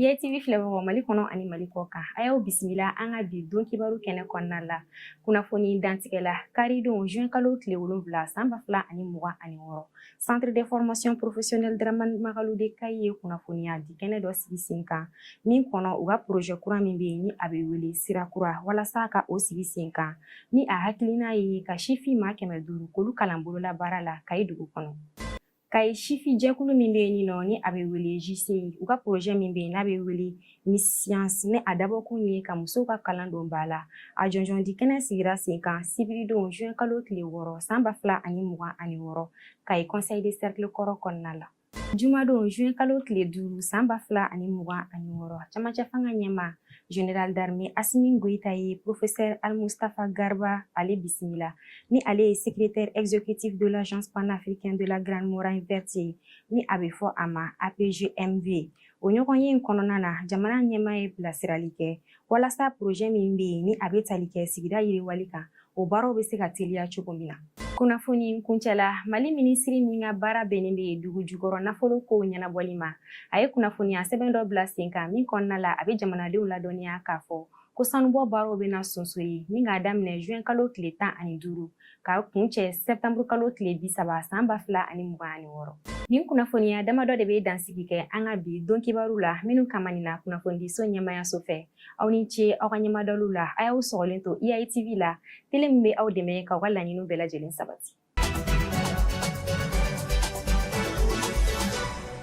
IATV filɛbagaw Mali kɔnɔ ani Mali kɔ kan a y'aw bisimila an ka bi don kibaru kɛnɛ kɔnɔna la kunnafoni dantigɛla karidon juin kalo tile wolonwula san ba fila ani mugan ani wɔɔrɔ centre de formation professionnelle Dramane Magalu de Kayi ye kunnafoniya di kɛnɛ dɔ sigi sen kan min kɔnɔ u ka projet kura min bɛ yen ni a bɛ wele sira kura walasa ka o sigi sen kan ni a hakilina ye ka sifin maa kɛmɛ duuru k'olu kalan bololabaara la Kayi dugu kɔnɔ. Kayi sifin jɛkulu min bɛ yen nin nɔ ni a bɛ wele JCI u ka projet min bɛ yen n'a bɛ wele Miss Science ni a dabɔkun ye ka musow ka kalan don ba la a jɔnjɔn di kɛnɛ sigira sen kan sibiridon juin kalo tile wɔɔrɔ san ba fila ani mugan ani wɔɔrɔ Kayi conseil de cercle kɔrɔ kɔnɔna la jumadon juin kalo tile duuru san ba fila ani mugan ani wɔɔrɔ camancɛ fanga ɲɛmaa Général d'armée Assimi Goïta ye professeur Al Mustafa Garba ale bisimila ni ale ye secrétaire exécutif de l'agence panafricaine de la grande muraille verte ye ni a bɛ fɔ a ma APGMV o ɲɔgɔnye in kɔnɔna na jamana ɲɛmaa ye bilasirali kɛ walasa projet min bɛ yen ni a bɛ tali kɛ sigida yiriwali kan o baaraw bɛ se ka teliya cogo min na kunnafoni kuncɛla Mali minisiri min ka baara bɛnnen bɛ dugu jukɔrɔ nafolo kow ɲɛnabɔli ma a ye kunnafoniya sɛbɛn dɔ bila sen kan min kɔnɔna la a bɛ jamanadenw ladɔnniya k'a fɔ ko sanubɔ baaraw bɛna sonsori ni k'a daminɛ juin kalo tile tan ani duuru ka kuncɛ sɛptanburu kalo tile bi saba san ba fila ani mugan ani wɔɔrɔ nin kunnafoniya damadɔ de bɛ dansigi kɛ an ka bi don kibaru la minnu kama nin na kunnafonidiso ɲɛmayaso fɛ aw ni ce aw ka ɲɛmadaliw la a y'aw sɔgɔlen to IATV la tele min bɛ aw dɛmɛ k'aw ka laɲiniw bɛɛ lajɛlen sabati